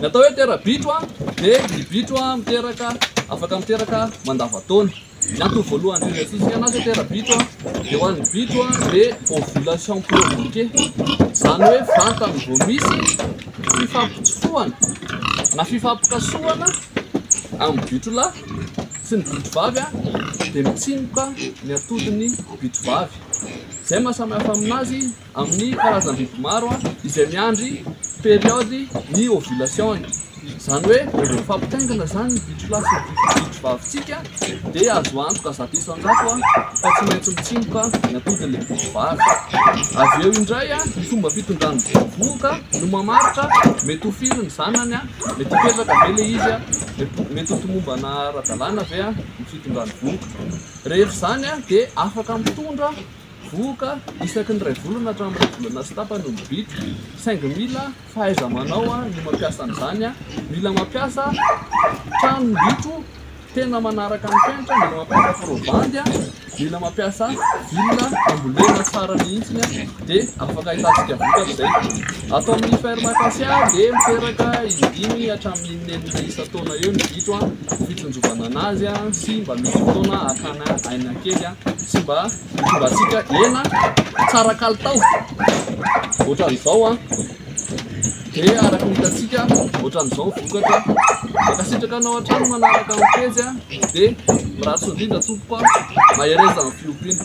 Ny atao hoe tera-bitro dia ny bitro miteraka afaka miteraka mandavan-taona. Ny antony voalohany indrindra iantsoantsika azy hoe tera-bitro dia ho an'ny bitro dia ovulation provoquée. Izany hoe vantany vao misy fifampitsofohana na fifampikasohana amin'ny bitro lahy sy ny bitro vavy dia mitsimoka ny atodin'ny bitro vavy. Izay maha samy hafa aminazy amin'ny karazam-biby maro izay miandry période ny ovulation-ny. Izany hoe rehefa mifampitaingina izany ny bitsilahy sy ny bitsivavintsika dia azo antoka zato isan-jato fa tsy maintsy mitsimoka ny atodin'ilay bitsivazy. Avy eo indray ny fomba fitondran'ny bitsibohoka no mamaritra mety ho firy ny zanany, mety hipetraka ve ilay izy, mety ho tomombana ara-dalàna ve ny fitondran'ny bohoka. Rehefa izany dia afaka mitondra. Vohoka, isaky ny iray volana hatramin'ny iray volana sy tapany ny bitro, saingy mila fahaiza-manao ny mampiasa an'izany. Mila mampiasa trano ny bitro tena manaraka ny fenitra, mila mampiasa probandy, mila mampiasa villa ambolena tsara mihitsy dia afaka ahitantsika vokatra izay. Ato amin'ny ferme Acacia dia miteraka indimy hatramin'ny inenina isan-taona eo ny bitro, fitsinjovana an'azy sy mba misy fotoana hakana aina kely sy mba Hitondratsika hena tsara kalitao ohatran'izao an. Dia araka ny hitantsika ohatran'izao ny vokatra. Mankasitraka anao hatrany manaraka ny pejy an. Dia mirary soa indrindra tompoko an. Mahereza amin'ny fiompiana.